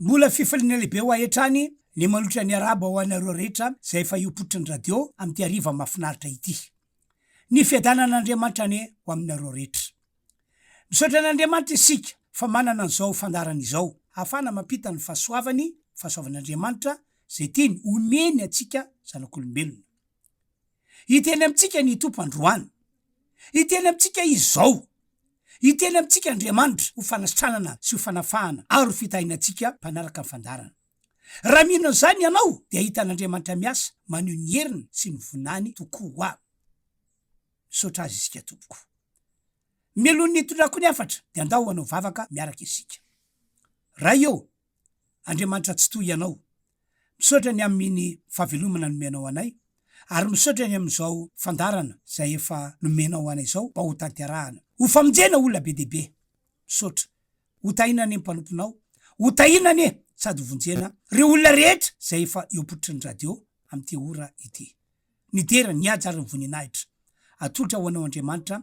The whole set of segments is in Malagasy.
Mbola fifaliana lehibe ho ahy hatrany ny manolotra ny Arabo ho anareo rehetra izay efa hiopotry ny radio amin'ity hariva mahafinaritra ity. Ny fiadanan'Andriamanitra anie ho aminareo rehetra. Misaotra an'Andriamanitra isika fa manana an'izao fandaharana izao ahafahana mampita ny fahasoavany, fahasoavan'Andriamanitra izay tiany homeny antsika zanak'olombelona. Hiteny amintsika ny Tompo androany. Hiteny amintsika Izy izao. Hiteny amintsika Andriamanitra ho fanasitranana sy ho fanafahana ary ho fitahiana antsika mpanaraka ny fandaharana. Raha mino an'izany ianao dia hahita an'Andriamanitra miasa maneho ny heriny sy ny voninahiny tokoa. Misaotra Azy isika tompoko. Mialohan'ny hitondrako ny hafatra dia ndao hanao vavaka miaraka isika. Ray ô! Andriamanitra Tsitoha Ianao. Misaotra ny amin'iny fahavelomana nomenao anay, ary misaotra ny amin'izao fandaharana izay efa nomenao anay izao mba hotanterahana. Ho famonjena olona be dia be. Misaotra. Ho tahina anie ny mpanomponao. Ho tahina anie sady ho vonjena ireo olona rehetra izay efa eo am-pototry ny radio amin'ity ora ity. Nidera, nihaja ary nivoninahitra. Atolotra ho Anao Andriamanitra,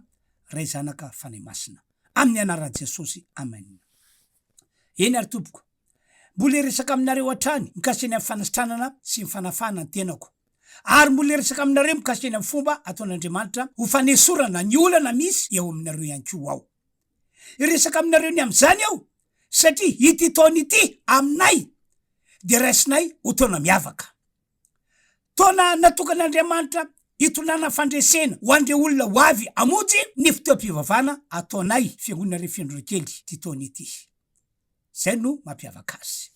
Ray, Zanaka, Fanahy Masina. Amin'ny anaran'i Jesosy. Amen. Eny ary tompoko, mbola hiresaka aminareo hatrany mikasika ny amin'ny fanasitranana sy ny fanafahana ny tenako. Ary mbola hiresaka aminareo mikasika ny amin'ny fomba ataon'Andriamanitra ho fanesorana ny olana misy eo aminareo ihany koa aho. Hiresaka aminareo ny amin'izany aho, satria ity taona ity, aminay, dia raisinay ho taona miavaka. Taona natokan'Andriamanitra hitondrana fandresena ho an'ireo olona ho avy hamonjy ny fotoam-pivavahana ataonay Fiangonana Refendrokely ity taona ity. Izay no mampiavaka azy.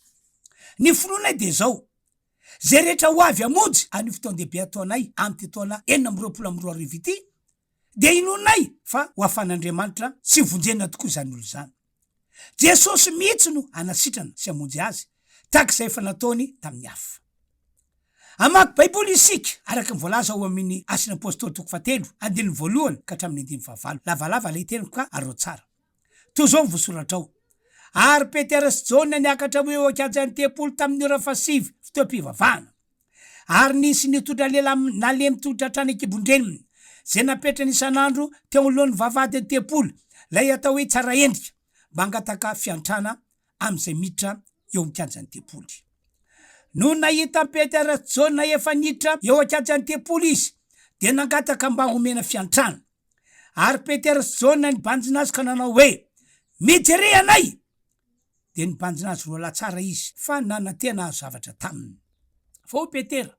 Ny finoanay dia izao, izay rehetra ho avy hamonjy an'io fotoan-dehibe ataonay amin'ity taona enina amby roapolo amby roa arivo ity dia inoanay fa ho afan'Andriamanitra sy vonjena tokoa izany olona izany. Jesosy mihitsy no hanasitrana sy hamonjy azy, tahaka izay efa nataony tamin'ny hafa. Hamaky Baiboly isika, araka ny voalaza ao amin'ny Asan'ny Apostoly toko fahatelo, andininy voalohany ka hatramin'ny andininy fahavalo. Lavalava ilay teniko ka arao tsara. Toa izao ny voasoratrao, Ary Petera sy Jaona niakatra ho eo an-kianjan'ny tempoly tamin'ny ora fahasivy, fotoam-pivavahana. ary nisy nitondra lela nalemy tolotra hatrany an-kibon-dreniny, izay napetrany isan'andro teo anoloan'ny vavahadin'ny tempoly, ilay atao hoe tsara endrika, mba hangataka fiantrana amin'izay miditra eo amin'ny kianjan'ny tempoly. Nony nahita an'i Petera sy Jaona efa niditra eo an-kianjan'ny tempoly izy, dia nangataka mba homena fiantrana. Ary Petera sy Jaona nibanjina azy ka nanao hoe, Mijery anay! dia nibanjina azy roalahy tsara izy fa nanatena hahazo zavatra taminy. Fa hoy Petera,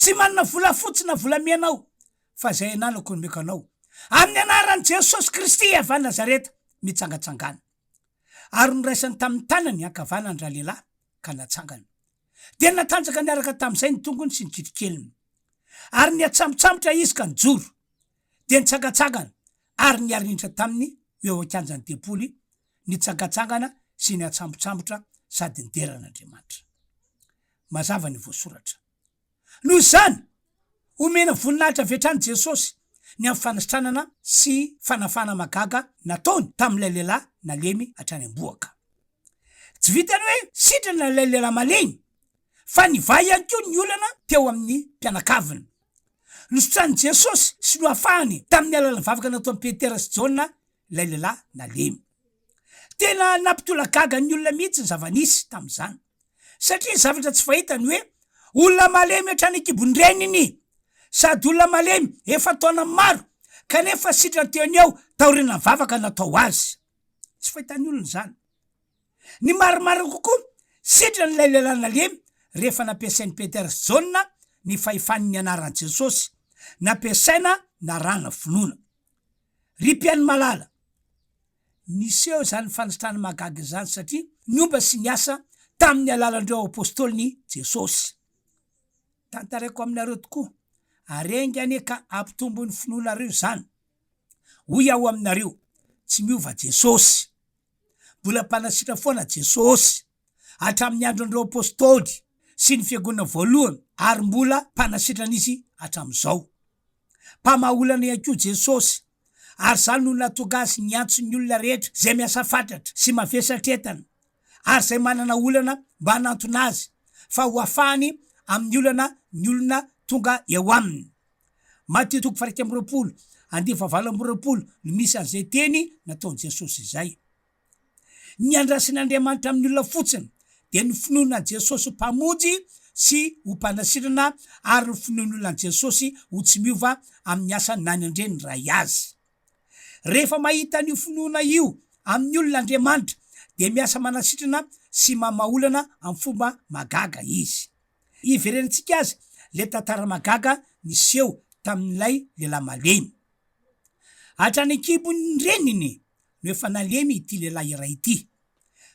Tsy manana volafotsy na volamena aho, fa izay ananako no omeko anao, Amin'ny anaran'i Jesosy Kristy avy any Nazareta, mitsangatsangano. Ary noraisany tamin'ny tanany ankavanany ralehilahy, ka natsangana. Dia natanjaka niaraka tamin'izay ny tongony sy ny kitrokeliny. Ary nihatsambotsambotra izy ka nijoro. Dia nitsangatsangana, ary niharihitra taminy ho eo an-kianjan'ny tempoly, nitsangantsangana sy niatsambotsambotra sady nidera an'Andriamanitra. Mazava ny voasoratra. Noho izany, omena voninahitra avy hatrany Jesosy ny amin'ny fanisitranana sy fanafahana mahagaga nataony tamin'ilay lehilahy nalemy hatrany am-bohoka. Tsy vitan'ny hoe sitrana ilay lehilahy malemy, fa nivaha ihany koa ny olana teo amin'ny mpianakaviny. Nosotranin'i Jesosy sy nohafahany tamin'ny alalan'ny vavaka nataon'i Petera sy Jaona ilay lehilahy nalemy. Tena nampitolagaga ny olona mihitsy ny zava-nisy tamin'izany, satria zavatra tsy fahita ny hoe olona malemy hatrany an-kibon-dreniny, sady olona malemy efa taona maro, kanefa sitrany teo anio taorian'ny vavaka natao azy. Tsy fahitan'ny olona izany. Ny marimarina kokoa, sitrany ilay lehilahy nalemy rehefa nampiasain'i Petera sy Jaona ny fahefany ny anaran'i Jesosy, nampiasaina narana vonoana. Ry mpihaino malala, niseho izany fanitrana mahagaga izany satria niomba sy niasa tamin'ny alalan'ireo apostoliny Jesosy. Tantaraiko aminareo tokoa, ary enga anie ka hampitombo ny finoanareo izany. Hoy aho aminareo, tsy miova Jesosy. Mbola Mpanasitrana foana Jesosy. hatramin'ny andron'ireo apostoly sy ny fiangonana voalohany ary mbola mpanasitrana izy hatramin'izao. Mpamaha olana ihany koa Jesosy, ary izany no nahatonga azy niantso ny olona rehetra izay miasa fatratra sy mavesatra entana ary izay manana olana mba hanantona azy fa hoafahany amin'ny olana ny olona tonga eo aminy. Matio toko faha-iraika amby roapolo, andinin'ny fahavalo amby roapolo no misy an'izay teny nataon'i Jesosy izay. Ny andrasan'Andriamanitra amin'ny olona fotsiny dia ny finoana an'i Jesosy ho Mpamonjy sy ho Mpanasirana ary ny finoan'olona an'i Jesosy ho tsy miova amin'ny asany na ny Andriany niray azy. Rehefa mahita an'io finoana io amin'ny olona Andriamanitra dia miasa manasitrana sy mamaha olana amin'ny fomba mahagaga Izy. Iverenantsika azy ilay tantara mahagaga niseho tamin'ilay lehilahy malemy. Hatrany an-kibon'ny reniny no efa nalemy ity lehilahy iray ity.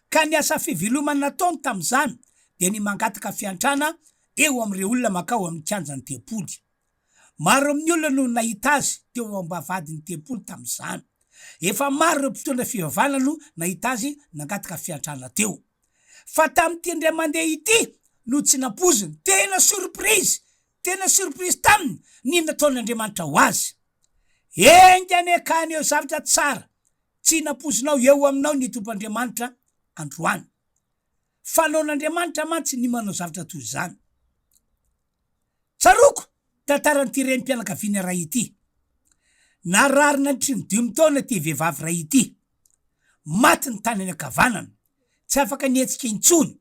Ka ny asa fivelomany nataony tamin'izany dia ny mangataka fiantrana eo amin'ireo olona mankao amin'ny kianjan'ny tempoly. Maro amin'ny olona no nahita azy teo am-bavahadin'ny tempoly tamin'izany. Efa maro ireo mpitondra fivavahana no nahita azy nangataka fiantrana teo. Fa tamin'ity indray mandeha ity no tsy nampoiziny. Tena surprise! Tena surprise taminy ny nataon'Andriamanitra ho azy. Enga anie ka haneho zavatra tsara tsy nampoizinao eo aminao ny Tompoandriamanitra androany. Fanaon'Andriamanitra mantsy ny manao zavatra toy izany. Tsaroako tantaran'ity renim-pianakaviana iray ity. Narary nandritry ny dimy taona ity vehivavy iray ity. Maty ny tanany ankavanana, tsy afaka nihetsika intsony.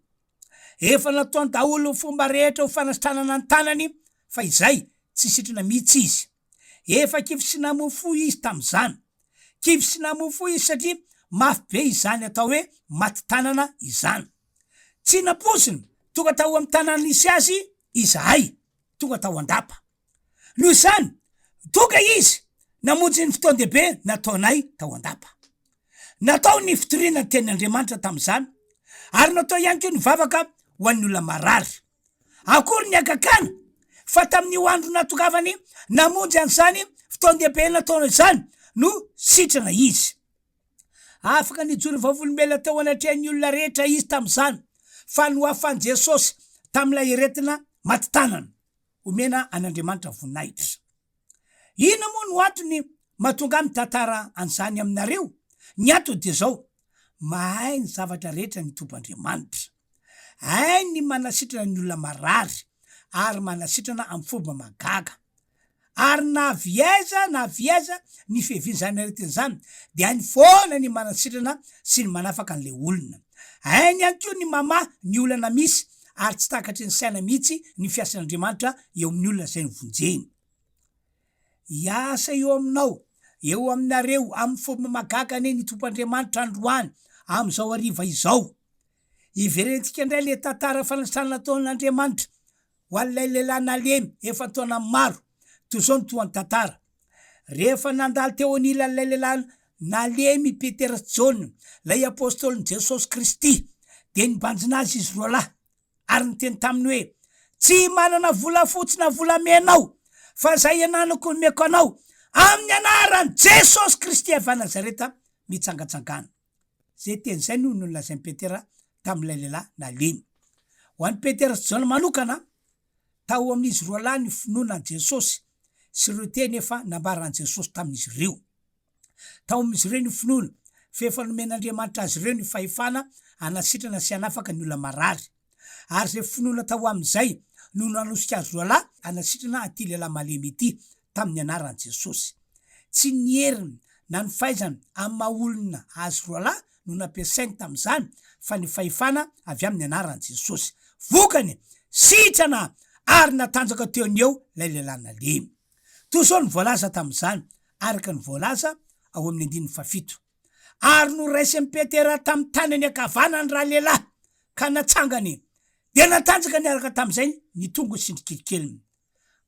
Efa nataony daholo ny fomba rehetra ho fanasitranana ny tanany fa izay, tsy sitrana mihitsy izy. Efa kivy sy namoa fo izy tamin'izany. Kivy sy namoa fo izy satria mafy be izany atao hoe maty tanana izany. Tsy nampoiziny, tonga tao amin'ny tanàna nisy azy izahay, tonga tao an-dapa. Noho izany, tonga izy namonjy ny fotoan-dehibe nataonay tao an-dapa. Natao ny fitoriana ny Tenin' Andriamanitra tamin'izany, ary natao ihany koa ny vavaka ho an'ny olona marary. Akory ny hagagana fa tamin'io andro natongavany namonjy an'izany fotoan-dehibe nataonay izany no sitrana izy! Afaka nijoro vavolombelona teo anatrehan'ny olona rehetra izy tamin'izany, fa nohafan'i Jesosy tamin'ilay aretina maty tanana. Omena an'Andriamanitra voninahitra. Inona moa no antony mahatonga ahy mitantara an'izany aminareo? Ny antony dia izao, mahay ny zavatra rehetra ny Tompoandriamanitra. Hainy ny manasitrana ny olona marary, ary manasitrana amin'ny fomba mahagaga. Ary na avy aiza na avy aiza ny fiavian'izany aretina izany, dia hainy foana ny manasitrana sy ny manafaka an'ilay olona. Hainy ihany koa ny mamaha ny olana misy ary tsy takatry ny saina mihitsy ny fiasan'Andriamanitra eo amin'ny olona izay novonjeny. Hiasa eo aminao, eo aminareo amin'ny fomba mahagaga anie ny Tompoandriamanitra androany amin'izao hariva izao. Hiverentsika indray ilay tantara fanasana nataon'Andriamanitra ho an'ilay lehilahy nalemy efa an-taona maro toy izao ny tohan'ny tantara. Rehefa nandalo teo anilan'ilay lehilahy nalemy i Petera sy Jaona, ilay apostolin'i Jesosy Kristy, dia nibanjina azy izy roa lahy, ary niteny taminy hoe, Tsy manana volafotsy na volamena aho, fa izay iananako no omeko anao, Amin'ny anaran'i Jesosy Kristy avy any Nazareta, mitsangatsangano. Izay teny izay no nolazain'i Petera tamin'ilay lehilahy nalemy. Ho an'i Petera sy Jaona manokana, Tao amin'izy roa lahy ny finoana an'i Jesosy sy ireo teny efa nambaran'i Jesosy tamin'izy ireo. Tao amin'izy ireo ny finoana fa efa nomen'Andriamanitra azy ireo ny fahefana hanasitrana sy hanafaka ny olona marary, ary izay finoana tao amin'izay no nanosika azy roalahy hanasitrana an'ity lehilahy malemy ity tamin'ny anaran'i Jesosy. Tsy ny heriny na ny fahaizany amin'ny maha olona azy roalahy no nampiasainy tamin'izany fa ny fahefana avy amin'ny anaran'i Jesosy. Vokany, sitrana ary natanjaka teo ny eo ilay lehilahy nalemy. Toy izao no voalaza tamin'izany, araka ny voalaza ao amin'ny andininy fahafito, Ary noraisin'i Petera tamin'ny tanany ankavanany ralehilahy ka natsangany, dia natanjaka niaraka tamin'izay ny tongony sy ny kilikeliny.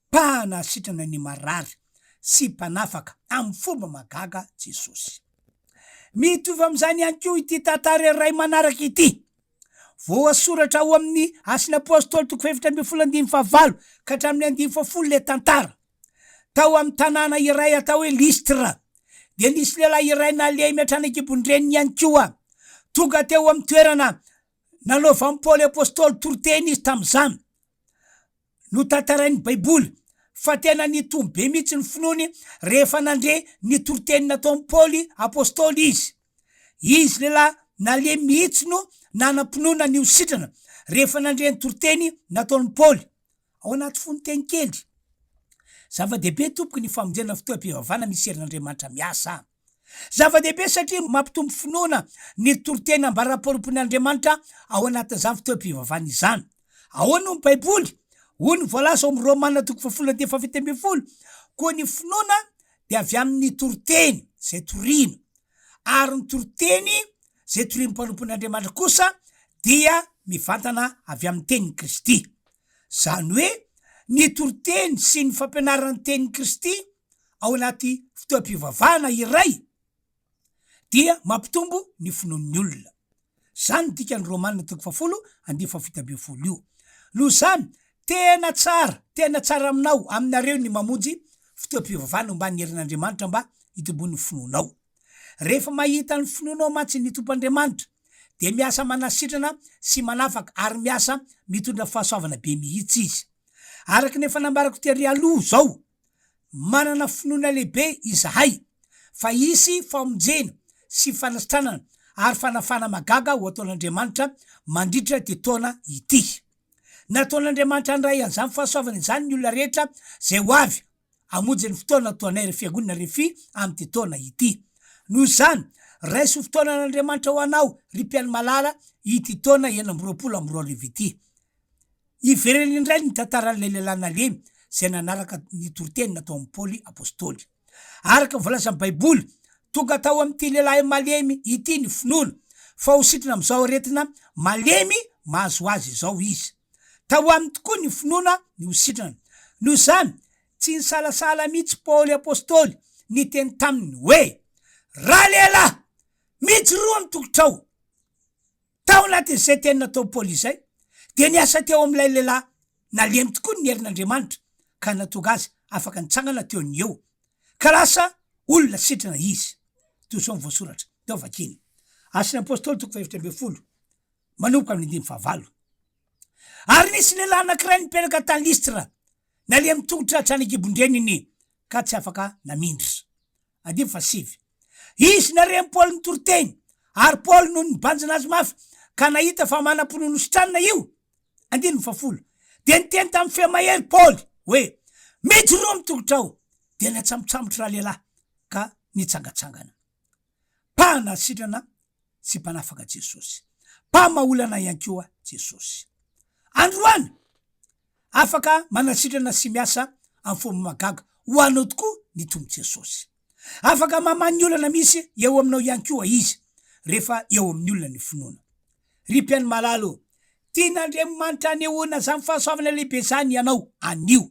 Mpahana sitrana ny marary sy Mpanafaka amin'ny fomba mahagaga Jesosy. Mitovy amin'izany ihany koa ity tantara iray manaraka ity, voasoratra ao amin'ny Asin'ny Apôstôly toko fahefatra ambin'ny folo andininy fahavalo ka hatramin'ny andininy fahafolo ilay tantara. Tao amin'ny tanàna iray atao hoe Lystre dia nisy lehilahy iray nalemy hatrany an-kibon-dreniny ihany koa. Tonga teo amin'ny toerana nanaovan'i Paoly Apôstôly toriteny izy tamin'izany. Notantarain'ny Baiboly fa tena nitombo be mihitsy ny finoany rehefa nandre ny toriteny nataon'i Paoly apostoly izy. Izy lehilahy nalemy mihitsy no nanam-pinoana ny ho sitrana rehefa nandre ny toriteny nataon'i Paoly. Ao anaty fonon-teny kely, zava-dehibe tompoko ny famonjena ny fotoam-pivavahana misy herin'Andriamanitra miasa. Zava-dehibe satria mampitombo finoana ny toriteny ambara-pahorompoin' Andriamanitra ao anatin' izany fotoam-pivavahana izany. Ahoana hoy ny Baiboly? Hoy ny voalaza ao amin' ny Romana toko fahafolo andininy fahafito ambin'ny folo, Koa ny finoana dia avy amin' ny toriteny izay toriana, ary ny toriteny izay torian'ny mpanompon' Andriamanitra kosa dia mivantana avy amin'ny tenin'i Kristy. Izany hoe ny toriteny sy ny fampianarana ny tenin'i Kristy ao anaty fotoam-pivavahana iray dia mampitombo ny finoan'ny olona. Izany no dikan'ny Romana toko fahafolo andinin'ny fahafito ambin'ny folo io. Noho izany, tena tsara, tena tsara aminao, aminareo ny mamonjy fotoam-pivavahana omban'ny herin'Andriamanitra mba hitomboan'ny finoanao. Rehefa mahita ny finoanao mantsy ny Tompoandriamanitra dia miasa manasitrana sy manafaka ary miasa mitondra fahasoavana be mihitsy Izy. Araka ny efa nambarako tery aloha izao, manana finoana lehibe izahay fa hisy famonjena sy fanasitranana ary fanafahana mahagaga ho ataon'Andriamanitra mandritra ity taona ity. Nataon'Andriamanitra handray an'izany fahasoavana izany ny olona rehetra izay ho avy. Hamonjy ny fotoana natoanay ry Fiangonana Refi amin'ity taona ity. Noho izany, raiso ho fotoanan'Andriamanitra ho anao, ry mpihaino malala, ity taona enina amby roapolo amby roa arivo ity. Hiverena indray ny tantaran'ilay lehilahy nalemy izay nanaraka ny toriteny nataon'i Paoly apostoly. Araka ny voalazan'ny Baiboly, tonga tao amin'ity lehilahy malemy ity ny finoana, fa ho sitrana amin'izao aretina malemy mahazo azy izao izy. Tao aminy tokoa ny finoana ny ho sitrana. Noho izany, tsy nisalasala mihitsy Paoly apostoly niteny taminy hoe, Ralehilahy, mijoroa ny tokotrao! Tao anatin'izay teny nataon'i Paoly izay, dia niasa teo amin'ilay lehilahy nalemy tokoa ny herin'Andriamanitra ka nahatonga azy afaka nitsangana teo ny eo, ka lasa olona sitrana izy. Toy izao ny voasoratra. Teo vakiny. Asan'ny Apostoly, toko fahaefatra ambin'ny folo. manomboka amin'ny andininy fahavalo. Ary nisy lehilahy anankiray nipetraka tany Listra, nalemy tongotra hatrany an-kibon-dreniny ka tsy afaka namindra. Andininy fahasivy. Izy nare an'i Paoly nitory teny, ary Paoly no nibanjina azy mafy, ka nahita fa manam-pinoana hositranina io. Andininy fahafolo. Dia niteny tamin'ny feo mahery Paoly hoe, Mijoroa ny tongotrao! Dia natsambotsambotra ralehilahy ka nitsangatsangana. Mpahana sitrana sy Mpanafaka Jesosy. Mpamaha olana ihany koa Jesosy. Androany, afaka manasitrana sy miasa amin'ny fomba mahagaga ho anao tokoa ny Tompo Jesosy. Afaka mamaha ny olana misy eo aminao ihany koa Izy, rehefa eo amin'ny olona ny finoana. Ry mpihaino malala ô, tian'Andriamanitra hanehoana izany fahasoavana lehibe izany ianao anio.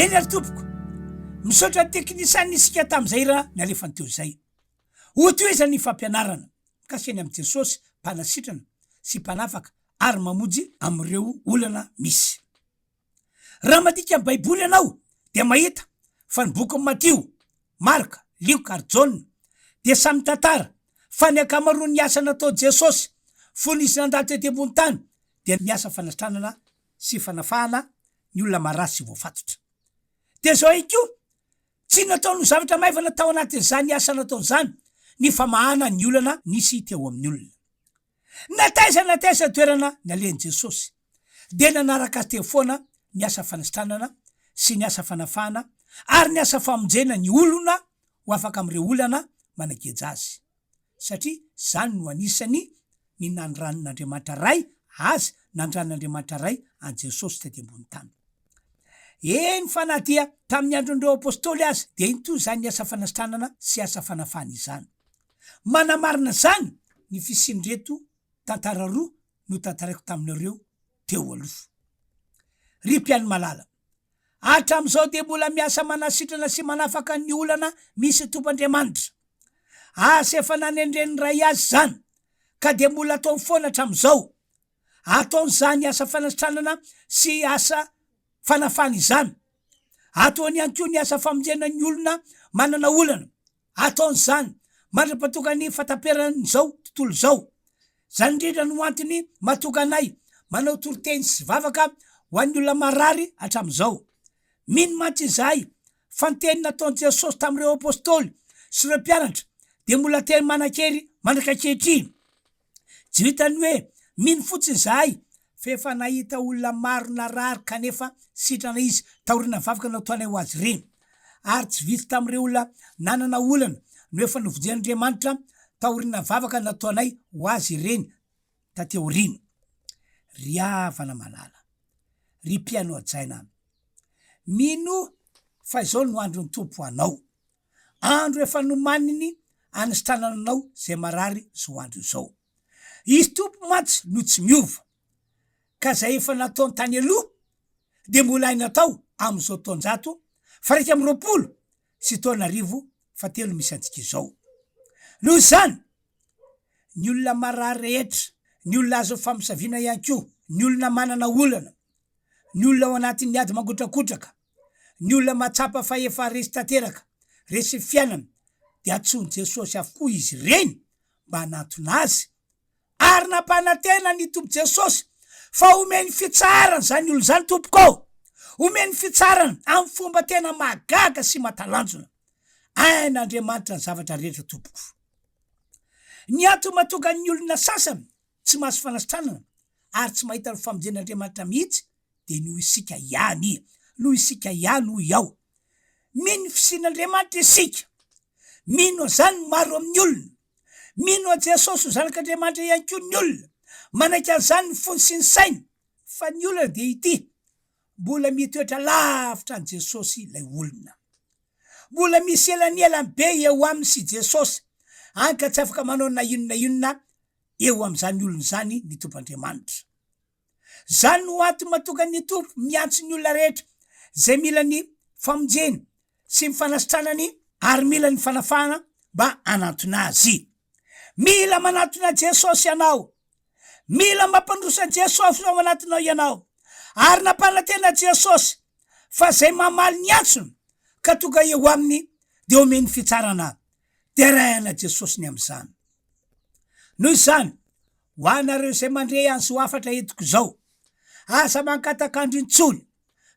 Eny ary tompoko, misaotra teknisianina isika tamin'izay raha nalefany teo izay. Ho toy iza ny fampianarana mikasika ny amin'i Jesosy Mpanasitrana sy Mpanafaka ary mamonjy amin'ireo olana misy. Raha mandika ny Baiboly ianao, dia mahita fa ny bokin'i Matio, Marka, Lioka ary Jaona dia samy mitantara fa ny ankamaroan'ny asa nataon'i Jesosy fony izy nandalo tety ambony tany dia ny asa fanatranana sy fanafahana ny olona marary sy voafatotra. Dia izao ihany koa, tsy nataony ho zavatra maivana tao anatin'izany asa nataony izany ny famahana ny olana nisy teo amin'ny olona. Na taiza na taiza ny toerana nalehan'i Jesosy, dia nanaraka Azy teo foana ny asa fanisitranana sy ny asa fanafahana ary ny asa famonjena ny olona ho afaka amin'ireo olana manageja azy, satria izany no anisany ny nanoranin'Andriamanitra Ray Azy, nanoranin'Andriamanitra Ray an'i Jesosy taty ambony tany. Eny fa na dia tamin'ny andron'ireo Apostoly aza, dia iny toy izany ny asa fanisitranana sy asa fanafahana izany. Manamarina izany ny fisian'ireto tantara roa notantaraiko taminareo teo aloha. Ry mpihaino malala, hatramin'izao dia mbola miasa manasitrana sy manafaka ny olana misy Tompoandriamanitra. Asa efa nanendren'ny Ray azy izany, ka dia mbola ataony foana hatramin'izao. Ataony izany asa fanasitranana sy asa fanafana izany. Ataony ihany koa ny asa famonjena ny olona manana olana. Ataony izany mandra-pahatonga ny fahataperan'izao tontolo izao. Izany indrindra no antony mahatonga anay manao toriteny sy vavaka ho an'ny olona marary hatramin'izao. Mino mantsy izahay fa ny teny nataon'i Jesosy tamin'ireo apostoly sy ireo mpianatra dia mbola teny manan-kery mandrak'ankehitriny. Juita ny hoe, Mino fotsiny izahay fa efa nahita olona maro narary kanefa sitrana izy taorian'ny vavaka nataonay ho azy ireny. Ary tsy vitsy tamin'ireo olona nanana olana no efa novonjen'Andriamanitra taorian'ny vavaka nataonay ho azy ireny taty aoriana. Ry havana malala, ry mpihaino hajaina, mino fa izao no andron'ny Tompo ho anao. andro efa nomaniny anisitranana anao izay marary izao andro izao. Izy Tompo mantsy no tsy miova, ka izay efa nataony tany aloha dia mbola hay natao amin'izao taon-jato faraika amby roapolo sy taona arivo fahatelo misy antsika izao. Noho izany, ny olona marary rehetra, ny olona azo famosaviana ihany koa, ny olona manana olana, ny olona ao anatin'ny ady mangotrakotraka, Ny olona mahatsapa fa efa resy tanteraka, resy ny fiainana, dia antsoin'i Jesosy avokoa izy ireny mba hanatona azy, ary nampanantena ny Tompo Jesosy fa homeny fitsaharana izany olona izany, Tompoko ô! Homeny fitsaharana amin'ny fomba tena mahagaga sy mahatalanjona. Hain' Andriamanitra ny zavatra rehetra, Tompoko. Ny antony mahatonga ny olona sasany tsy mahazo fanasitranana ary tsy mahita ny famonjen'Andriamanitra mihitsy dia noho isika ihany, noho isika ihany hoy aho. Mino ny fisian'Andriamanitra isika. Mino an'izany ny maro amin'ny olona. Mino an'i Jesosy ho Zanak'Andriamanitra ihany koa ny olona. Manaiky an'izany ny fony sy ny sainy. Fa ny olana dia ity, mbola mitoetra lavitra an'i Jesosy ilay olona. Mbola misy elanelany be eo aminy sy Jesosy, hany ka tsy afaka manao na inona na inona eo amin'izany olona izany ny Tompoandriamanitra. Izany no antony matokan'ny ny Tompo miantso ny olona rehetra izay mila ny famonjena sy ny fanasitranany ary mila ny fanafahana mba hanantona Azy. Mila manantona Jesosy ianao. Mila mampandroso Jesosy ao anatinao ianao. Ary nampanantena Jesosy fa izay mamaly ny antsony ka tonga eo Aminy dia omeny fitsarana. Deraina Jesosy ny amin'izany. Noho izany, ho anareo izay mandre an'izao hafatra entiko izao, aza mangatak'andro intsony.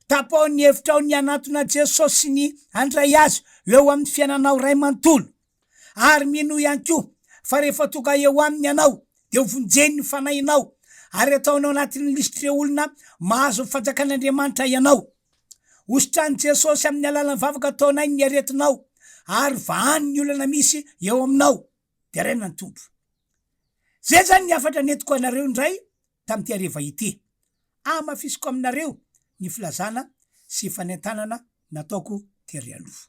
Tapaho ny hevitrao ny hanatona an'i Jesosy sy ny handray Azy ho eo amin'ny fiainanao iray manontolo. Ary minoa ihany koa fa rehefa tonga eo Aminy ianao, dia hovonjeny ny fanahinao ary ataony ao anatin'ny lisitr'ireo olona mahazo ny fanjakan'Andriamanitra ianao. Hositran'i Jesosy amin'ny alalan'ny vavaka ataonay ny aretinao ary vahany ny olana misy eo aminao. Deraina ny Tompo. Izay izany ny hafatra nentiko anareo indray tamin'ity hariva ity. Hamafisiko aminareo ny filazana sy fanentanana nataoko tery aloha.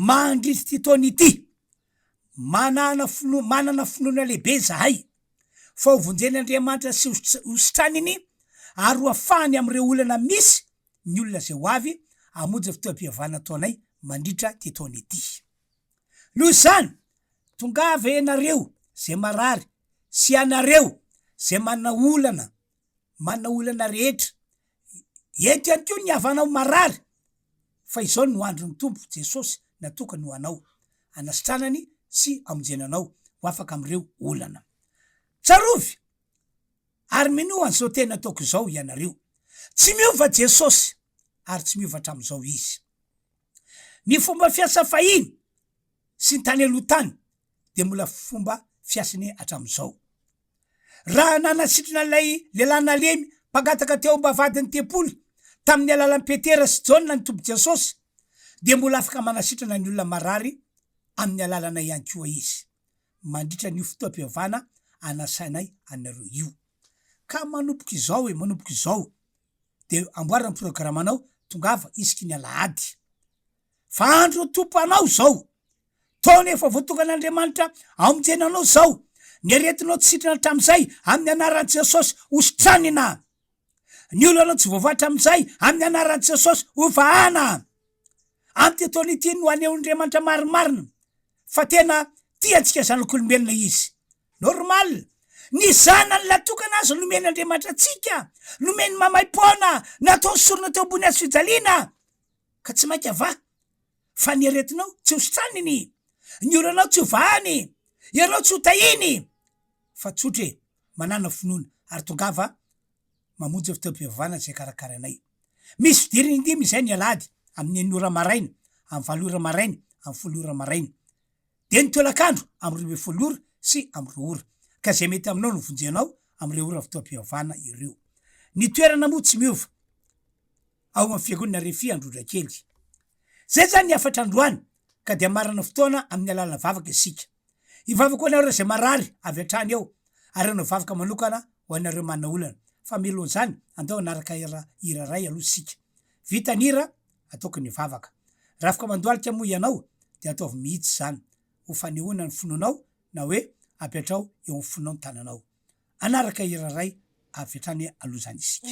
Mandritra ity taona ity, Manana finoana, manana finoana lehibe izahay fa hovonjen' Andriamanitra sy hositraniny ary hoafahany amin' ireo olana misy ny olona izay ho avy hamonjy ny fotoam-pivavahana ataonay mandritra ity taona ity. Noho izany, tongava ianareo izay marary sy ianareo izay manana olana manana olana rehetra. Eto ihany koa ny havanao marary, fa izao no andron'ny Tompo Jesosy natokany ho anao, hanasitranany sy hamonjena anao ho afaka amin'ireo olana. Tsarovy ary minoa an'izao tena ataoko izao ianareo. Tsy miova Jesosy ary tsy miova hatramin'izao Izy. Ny fomba fiasa fahiny sy ny tany aloha tany dia mbola fomba fiasany hatramin'izao. Raha nanasitrana ilay lehilahy nalemy mpangataka teo am-bavahadin'ny tempoly tamin'ny alalan'i Petera sy Jaona ny Tompo Jesosy, dia mbola afaka manasitrana ny olona marary amin'ny alalana ihany koa Izy, mandritra an'io fotoam-pivavahana anasanay anareo io. Ka manomboka izao e, manomboka izao. de amboary ny programme nao tongava isika ny alahady fa andro tompanao zao taona efa voatokana andriamanitra amonjena anao zao ny aretinao tsy sitrana hatramizay amin'ny anaran'i jesosy hositranina ny olonao tsy voavatra amizay amin'ny anaran'i jesosy hovahana amy ty taona ity no anehoan'andriamanitra marimarina fa tena tia antsika zanak'olombelona izy Normal. Ny zanany latokana aza nomen'Andriamanitra antsika, nomeny mamaipoana, nataony sorona teo ambony hazo fijaliana, ka tsy mainka va fa ny aretinao tsy hositraniny, ny olanao tsy hovahany, ianao tsy hotahiny, fa tsotra e, manana finoana ary tongava mamonjy ny fotoam-pivavahana izay karakarainay. Misy fidirana indimy izay ny alahady, amin'ny enina ora maraina, amin'ny valo ora maraina, amin'ny folo ora maraina. Dia ny tolakandro amin'ny roa ambin'ny folo ora sy amin'ny roa ora, ka izay mety aminao no vonjenao amin'ireo ora fotoam-pivavahana ireo. Ny toerana moa tsy miova, ao amin'ny Fiangonana Refi Androndrakely. Izay izany ny hafatra androany, ka dia marana fotoana amin'ny alàlan'ny vavaka isika. Hivavaka ho anareo izay marary avy hatrany eo, ary hanao vavaka manokana ho anareo manana olana. Fa mialohan'izany, andao hanaraka hira iray aloha isika. Vita ny hira, ataoko ny vavaka. Rafoka mandohalika moa ianao dia ataovy mihitsy izany ho fanehoana ny finoanao na hoe apetraho eo amin'ny fonao ny tananao. Hanaraka hira iray avy hatrany aloha izany isika.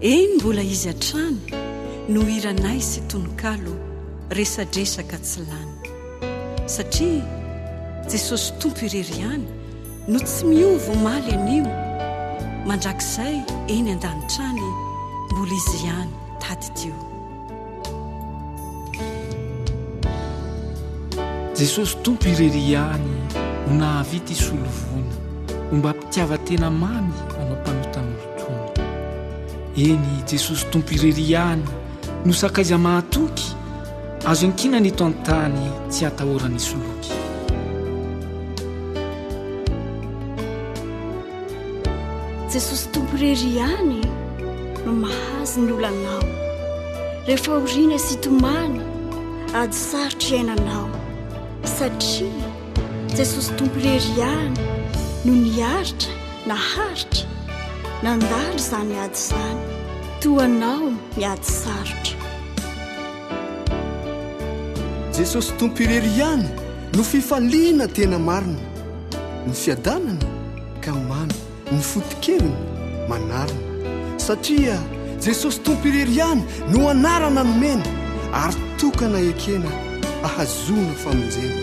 Eny mbola izy hatrany no hiranay sy tononkalo resadresaka tsy lany. Satria Jesosy Tompo irery ihany no tsy miova omaly anio mandrakizay eny an-danitra any mbola izy ihany tadidio. Jesosy Tompo irery ihany no nahavita hisolovoina ombam-pitiavan-tena mamy anao mpanota-molotoana. Eny, Jesosy Tompo irery ihany no sakaiza mahatoky, azo iankinana eto an-tany tsy hatahorany hisoloky. Jesosy Tompo irery ihany no mahazo ny olanao rehefa oriana sy tomany ady sarotra iainanao satria Jesosy Tompo irery ihany no niaritra naharitra nandalo izany ady izany toa anao ny ady sarotra Jesosy Tompo irery ihany no fifaliana tena marina Ny fiadanana ka mamy, ny foto-keviny manarina. Satria Jesosy Tompo irery ihany no anarana nomena ary tokana ekena ahazoana famonjena.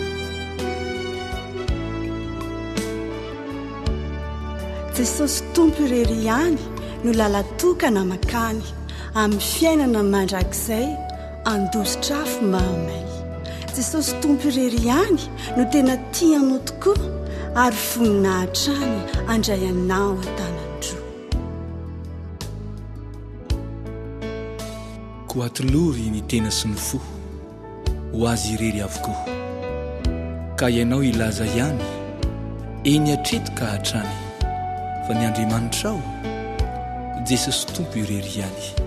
Jesosy Tompo irery ihany no lala-tokana makany amin'ny fiainana mandrakizay. Handositra afo mahamay. Jesosy Tompo irery ihany no tena tia anao tokoa ary vonona hatrany handray anao an-tanan-droa. Koa atolory ny tena sy ny fo ho Azy irery avokoa. Ka ianao hilaza ihany eny hatreto ka hatrany fa ny Andriamanitrao, Jesosy Tompo irery ihany.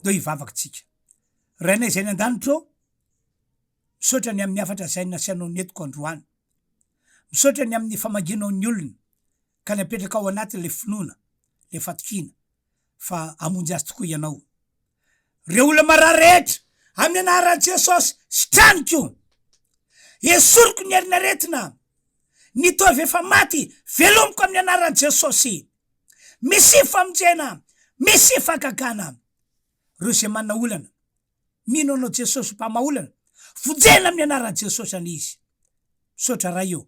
Ndao hivavaka tsika. Rainay izay any an-danitra ô, misaotra ny amin'ny hafatra izay nasianao netiko androany. Misaotra ny amin'ny famangianao ny olona ka ny apetraka ao anatiny ilay finoana, ilay fatokiana fa hamonjy azy tokoa Ianao. Ireo olona marary rehetra, amin'ny anaran'i Jesosy, sitraniko. Esoriko ny herin'aretina, ny toa avy efa maty, velomiko amin'ny anaran'i Jesosy. Misy famonjena, misy fahagagana. Reo zay manana olana, mino anao Jesosy mpamaolana, vonjena amin'ny anaran'i Jesosy anie izy. Misaotra Ray ô,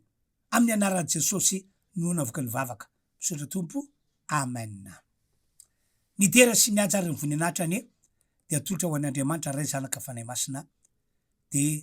amin'ny anaran'i Jesosy no hanaovako ny vavaka. Misaotra Tompo, Amen. Ny dera sy ny haja ary ny voninahitra anie dia atolotra ho an'Andriamanitra Ray, Zanaka, Fanahy Masina, dia